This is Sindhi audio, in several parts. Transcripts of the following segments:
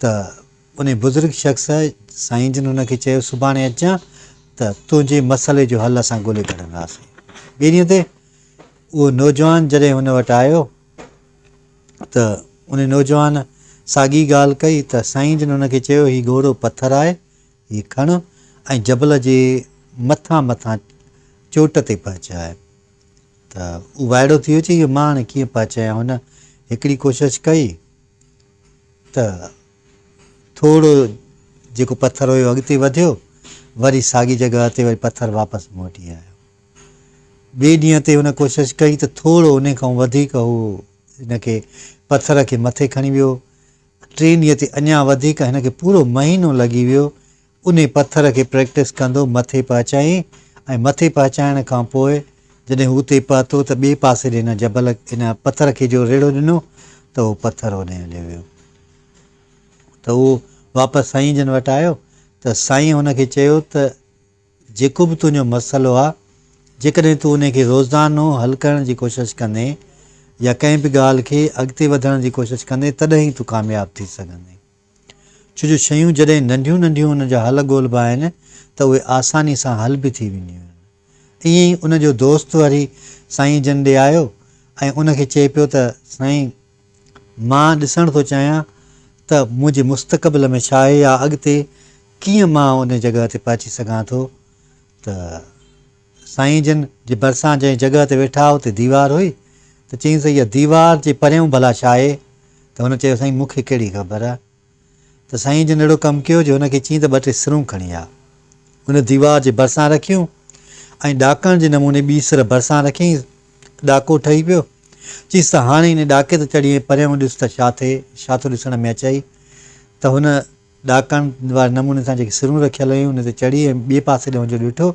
ته انهي بزرگ شخص سائين جن هن کي چيو سڀاڻي اچجان ته تنهنجي مسئلي جو حل اسان ڳولي ڪڍنداسين. ٻئي ڏينهن تي اهو نوجوان جڏهن هن وٽ آيو ته انهي نوجوان ساڳي ڳالهه ڪئي ته سائين جن هن کي چيو هي ڳوڙهو پٿر آهي هي کڻ ۽ جبل جي مٿان مٿان چوٽ تي پهچاء ته اهو وائڙو ٿي ويو چي اهو مان هاڻي ڪيئن پهچايان هن هڪڙي ڪوشش ڪئي ته ٿورو جيڪو پٿر هيو اڳتي وڌيو، وري ساڳي جڳهه تي وري پٿر واپس موٽي آيو. ٻئي ڏينهن تي هن ڪوشش ڪئي ته ٿورو انهي کان وڌيڪ هو هن کي پٿر کي مٿي کڻي ويو. ٽئين ڏينهن تي اڃا وڌيڪ هن کي پورو مهينو لڳي ويو. انهي پٿر کي پريڪٽس ڪندو مٿي پهچائين ۽ مٿي پهچائڻ کان پوء جڏهن هو اتي پهتو ته ٻئي پاسي ڏي هن جبل هن پٿر کي جو ريڙهو ڏنو ته اهو پٿر هوڏي هليو ويو ته اهو واپس سائين جن وٽ آيو ته سائين هن کي چيو ته جيڪو به تنهنجو مسئلو آ جيڪڏهن تون انهي کي روزانو حل ڪرڻ جي ڪوشش ڪندين يا ڪنهن به ڳالهه کي اڳتي وڌڻ جي ڪوشش ڪندين تڏهن ئي تون ڪامياب ٿي سگهندين. ڇو جو شيون جڏهن ننڍيون ننڍيون انهن جا حل ڳولبا آهن ته اهي آساني سان حل به ٿي وينديون آهن. ائين ئي ان جو دوست وري سائين جن ڏي آيو ۽ ان کي چئي پيو ته سائين مان ڏسڻ ٿو چاهيان ته منهنجي مستقبل ۾ ڇا آهي يا اڳتي ڪيئن مان ان جڳهه تي پهچي سگهان ٿو ته سائين جن جي ڀرسان جنهن جڳهه تي ويٺا هئا اتي ديوار هئي ته چيائينس اها ديوار جي پريون ڀلا ڇا آهي ته هن چيو سائين مون کي ڪهڙي خبر ته سائين جن اهڙو ڪم ڪيو جو هن کي چيائين ته ٻه ٽي سرون کڻي آ ان ديوار جي ڀرسان رکيون ۽ ڏاڪڻ جي نموني ٻي سر ڀرسان رکيائين ڏاڪو ٺهي پيو چيس ته هاڻي ان ڏاڪي تي چڙهي ۽ پريون ڏس ته ڇا ٿئي ڇا ٿو ڏسڻ ۾ اچئي ته هن ڏاڪڻ واري نموني سان جيڪي سرون رکيل هيون ان تي چڙهي ۽ ٻئي پاسي ڏانهن جو ڏٺو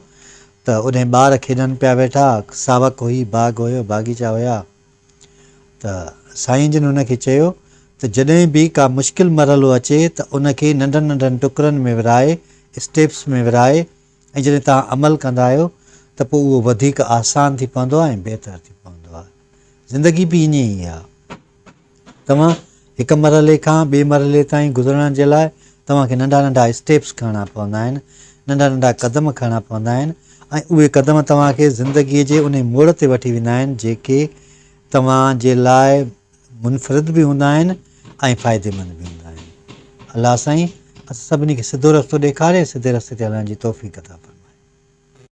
ته اوڏانهن ٻار کيڏن پيا ويٺا، ساوڪ هئي، باغ هيو، باغيچا هيا ته سائين جن هن کي چيو ته جڏهن به ڪا مشڪل مرحلو اچي ته ان کي ننڍن ننڍن ٽڪرن ۾ ورهائي، اسٽيپس ۾ ورهائي، ۽ جڏهن توهان عمل ڪندا آهيو ته پوء اهو وڌيڪ آسان ٿي پوندو آهي ۽ بهتر ٿي پوندو آهي. زندگي به ائين ئي آهي. توهان هڪ مرحلي کان ٻئي مرحلي تائين گذرڻ جي لاء توهان کي ننڍا ننڍا اسٽيپس کڻڻا پوندا آهن، ننڍا ننڍا قدم کڻڻا پوندا آهن ۽ اهي قدم توهان کي زندگيء جي انهي موڙ تي وٺي ويندا آهن جيڪي توهان جي لاء منفرد به هوندا آهن ۽ فائديمند به هوندا آهن الله سائين اسان سڀني کي سڌو رستو ڏيکاري سڌي رستي تي هلڻ جي توفيق عطا فرمائي.